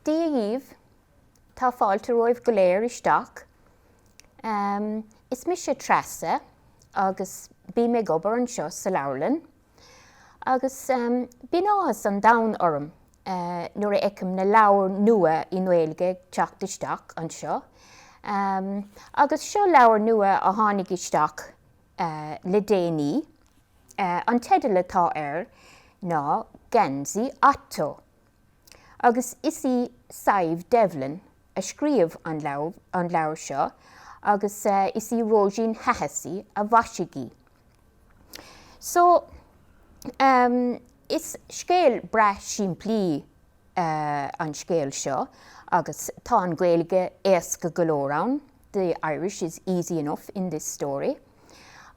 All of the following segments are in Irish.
Dia dhíbh. Tá fáilte romhaibh go léir isteach. Is mise Treasa agus bím ag obair anseo sa leabharlann agus bíonn áthas an domhain orm nuair a fheicim na leabhair nua i nGaeilge ag teacht isteach anseo. Agus seo leabhar nua a tháinig isteach le déanaí. An teideal atá air ná Geansaí Otto agus is í Sadhbh Devlin a scríobh an leabhar seo agus is í Róisín Hahessy a mhaisigh í. So, is scéal breá simplí an scéal seo agus tá an Ghaeilge éasca go leor ann. the Irish is easy enough in this story,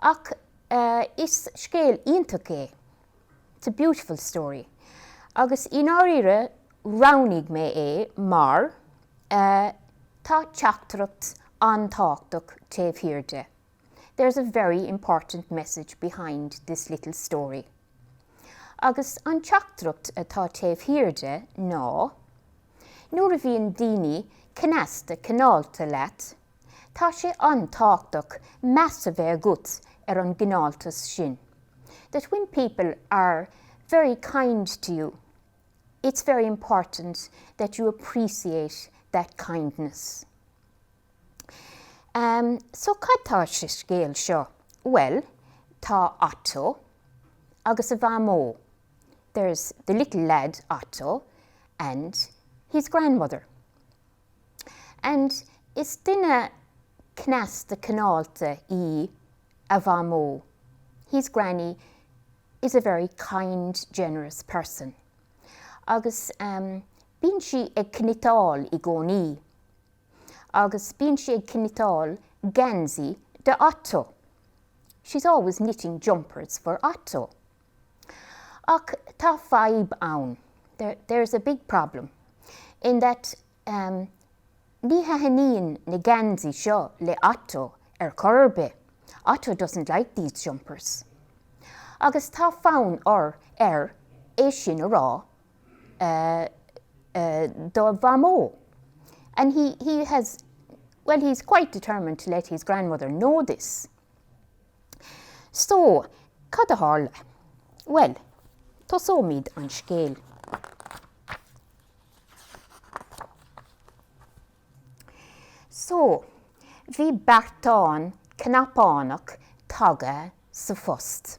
ach is scéal iontach é, it's a beautiful story, agus i ndáiríre roghnaigh mé é mar tá teachtaireacht an-tábhachtach taobh thiar de. there's a very important message behind this little story. Agus an teachtaireacht atá taobh thiar de ná, nuair a bhíonn daoine cneasta cineálta leat, tá sé an-tábhachtach meas a bheith agat ar an gcineáltas sin, that when people are very kind to you, it's very important that you appreciate that kindness. So cad atá sa scéal seo? Bhuel, tá Otto agus a mhamó, there's the little lad Otto and his grandmother. And is duine cneasta cineálta í a mhamó, his granny is a very kind, generous person. Agus bíonn sí ag cniotáil i gcónaí. agus bíonn sí ag cniotáil geansaí do Otto. She's always knitting jumpers for Otto. Ach tá fadhb ann, there's a big problem, in that ní thaitníonn na geansaí seo le Otto ar chor ar bith, Otto doesn't like these jumpers. Agus tá fonn air é sin a rá do Mhamó, and he, he has, well, he's quite determined to let his grandmother know this. So, cad a tharla? Bhuel, tosóimid an scéal. So, bhí beartán cnapánach taga sa phost.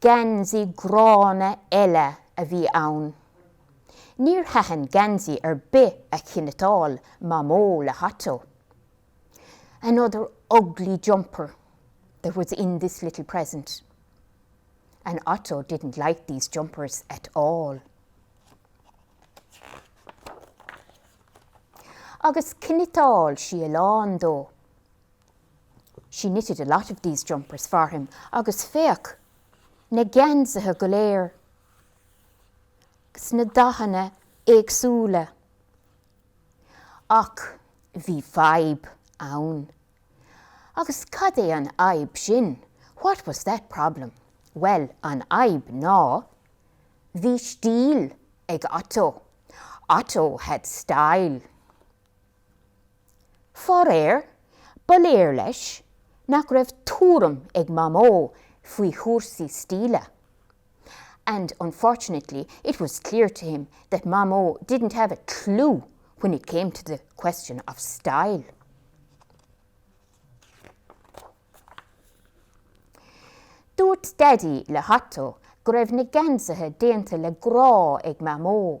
Geansaí gránna eile a bhí ann. Níor thaitin geansaí ar bith a chniotáil Mamó le hOtto. Another ugly jumper that was in this little present. And Otto didn't like these jumpers at all. Agus chniotáil sí a lán dó. She knitted a lot of these jumpers for him, agus féach, na geansaithe go léir, sna dathanna éagsúla. Ach bhí fadhb ann. Agus cad é an fhadhb sin? What was that problem? Bhuel, an fhadhb ná, bhí stíl ag Otto. Otto had style. Faraoir, ba léir dó nach raibh tuairim ag Mamó faoi chúrsaí stíle and unfortunately it was clear to him that Mamó didn't have a clue when it came to the question of style. Dúirt Daidí le hOtto go raibh na geansaithe déanta le grá ag Mamó.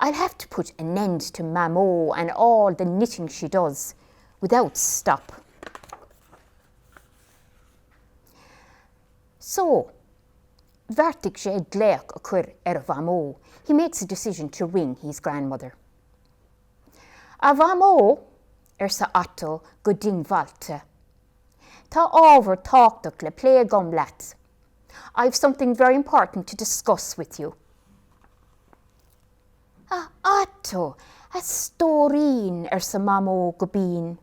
I'll have to put an end to Mamó and all the knitting she does without stop. So, bheartaigh sé glaoch a chur ar a Mhamó, he makes a decision to ring his grandmother. A Mhamó, arsa Otto go diongbháilte, tá ábhar tábhachtach le plé agam leat. I've something very important to discuss with you. A Otto, a stóirín, arsa Mamó go binn.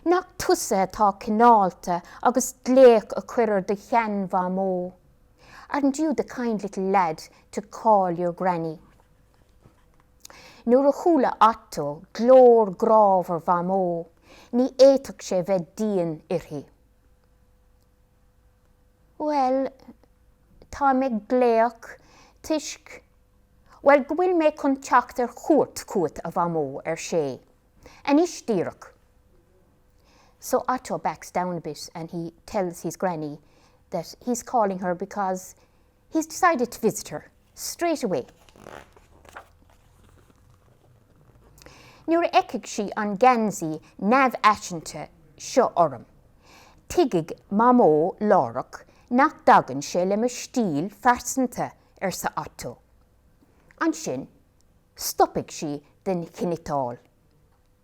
Nach tusa atá cineálta agus glaoch a chur ar do sheanmhamó? Aren't you the kind little lad to call your granny? Nuair a chuala Otto glór grámhar Mhamó, ní fhéadfadh sé bheith dian uirthi. Bhuel, táim ag glaoch toisc, bhuel, go bhfuil mé chun teacht ar cuairt chugat, a Mhamó, ar sé. Anois díreach. So Otto backs down a bit and he tells his granny that he's calling her because He's decided to visit her straight away, Nuair a fheicfidh sí an geansaí neamhfhaiseanta seo orm, tuigfidh Mamó láithreach nach dtagann sé le mo stíl phearsanta, arsa Otto. Ansin, stopfaidh sí den chniotáil.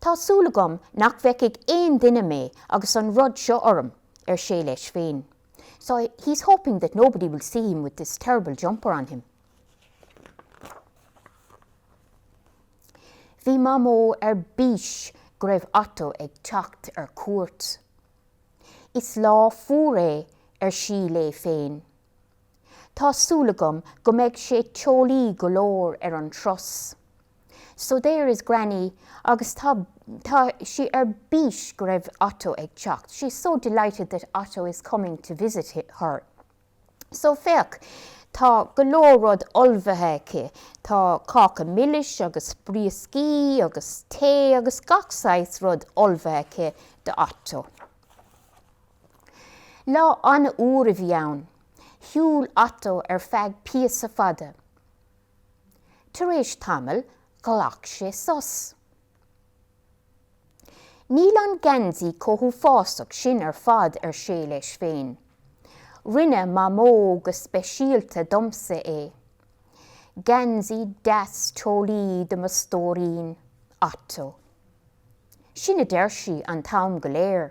Tá súil agam nach bhfeicfidh aon duine mé agus an rud seo orm, ar sé leis féin. So, he's hoping that nobody will see him with this terrible jumper on him. Bhí Mamó ar bís go raibh Otto ag teacht ar cuairt. Is lá fuar é, ar sí léi féin. Tá súil agam go mbeidh sé teolaí go leor ar an turas. So there is Granny agus tá, tá, sí ar bís go raibh Otto ag teacht, she is so delighted that Otto is coming to visit her. So féach, tá go leor rud ullmhaithe aici, tá cáca milis agus brioscaí agus tae agus gach saghas rud ullmhaithe aici do Otto. Lá an-fhuar a bhí ann. Shiúl Otto ar feadh píosa fada. Tar éis tamaill ghlac sé sos. Níl an geansaí chomh huafásach sin ar fad, ar sé leis féin. Rinne Mamó go speisialta domsa é. Geansaí deas teolaí do mo stóirín, Otto. Sin a deir sí an t-am go léir.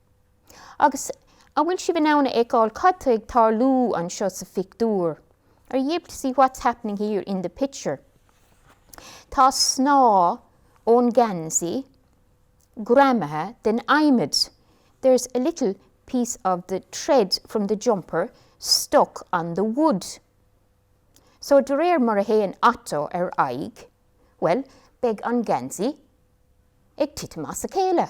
Agus an bhfuil sibh in ann a fheiceáil cad tá ag tarlú anseo sa phictiúr? Are ye able to see what's happening here in the picture? Tá snáth ón geansaí greamaithe den adhmad. There's a little piece of the thread from the jumper stuck on the wood. So de réir mar a théann Otto ar aghaidh, bhuel, beidh an geansaí ag titim as a chéile.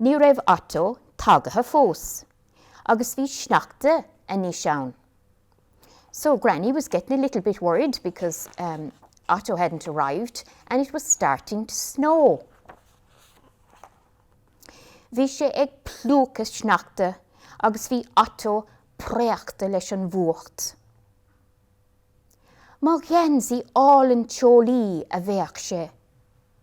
Ní raibh Otto tagaithe fós agus bhí sneachta anois ann So Granny was getting a little bit worried because ehm Otto hadn't arrived and it was starting to snow Bhí sé ag plúchadh sneachta agus bhí Otto préachta leis an bhfuacht. Mo gheansaí álainn teolaí a bhéic sé.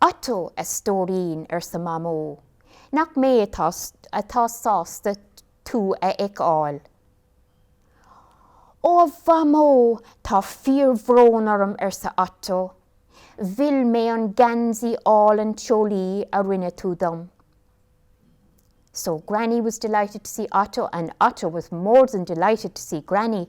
Otto, a stóirín, arsa Mamó, nach mé atá sásta tú a fheiceáil. Ó a Mhamó, tá fíorbhrón orm, arsa Otto, mhill mé an geansaí álainn teolaí a rinne tú dom. So Granny was delighted to see Otto and Otto was more than delighted to see Granny.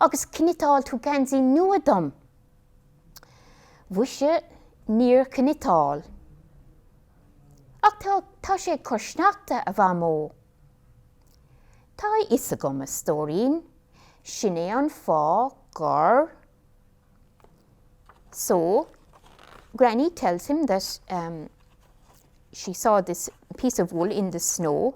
Agus chniotáil tú geansaí nua dom. Mhuise, níor chniotáil. Ach tá, tá sé ag cur sneachta, a Mhamó. Tá a fhios agam, a stóirín, sin é an fáth gur. So, Granny tells him that um she saw this piece of wool in the snow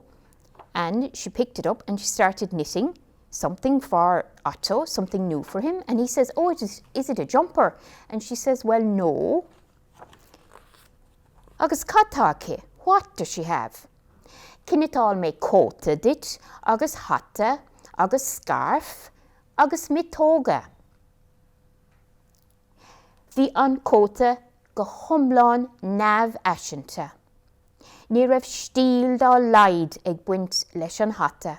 and she picked it up and she started knitting. something for Otto, something new for him, and he says, oh, is, is it a jumper? And she says, well, no. Agus cad tá aici? What does she have? Chniotáil mé cóta duit, agus hata, agus scarf, agus miotóga. Bhí an cóta go hiomlán neamhfhaiseanta. Ní raibh stíl dá laghad ag baint leis an hata.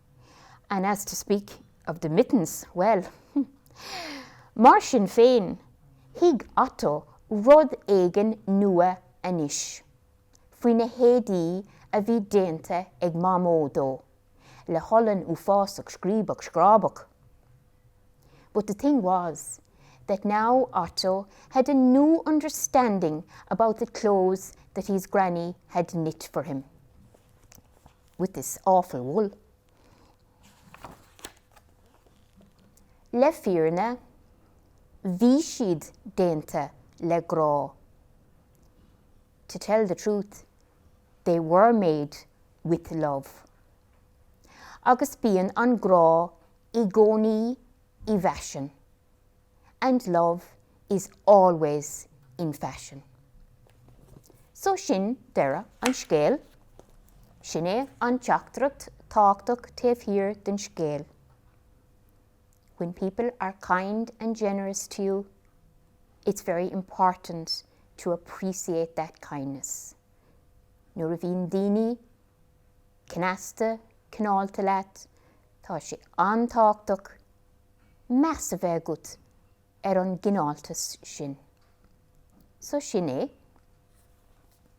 And as to speak of the mittens, well, Mar sin féin, thuig Otto rud éigin nua anois faoi na héadaí a bhí déanta ag Mamó dó le holann uafásach scríobach scrábach. But the thing was that now Otto had a new understanding about the clothes that his granny had knit for him. with this awful wool. Le fírinne, bhí siad déanta le grá To tell the truth, they were made with love. Agus bíonn an grá i gcónaí i bhfaisean. and love is always in fashion. So sin deireadh an scéil. Sin é an teachtaireacht tábhachtach taobh thiar den scéal. When people are kind and generous to you, it's very important to appreciate that kindness. Nuair a bhíonn daoine cneasta, cineálta leat, tá sé an-tábhachtach meas a bheith agat ar an gcineáltas sin. So sin é.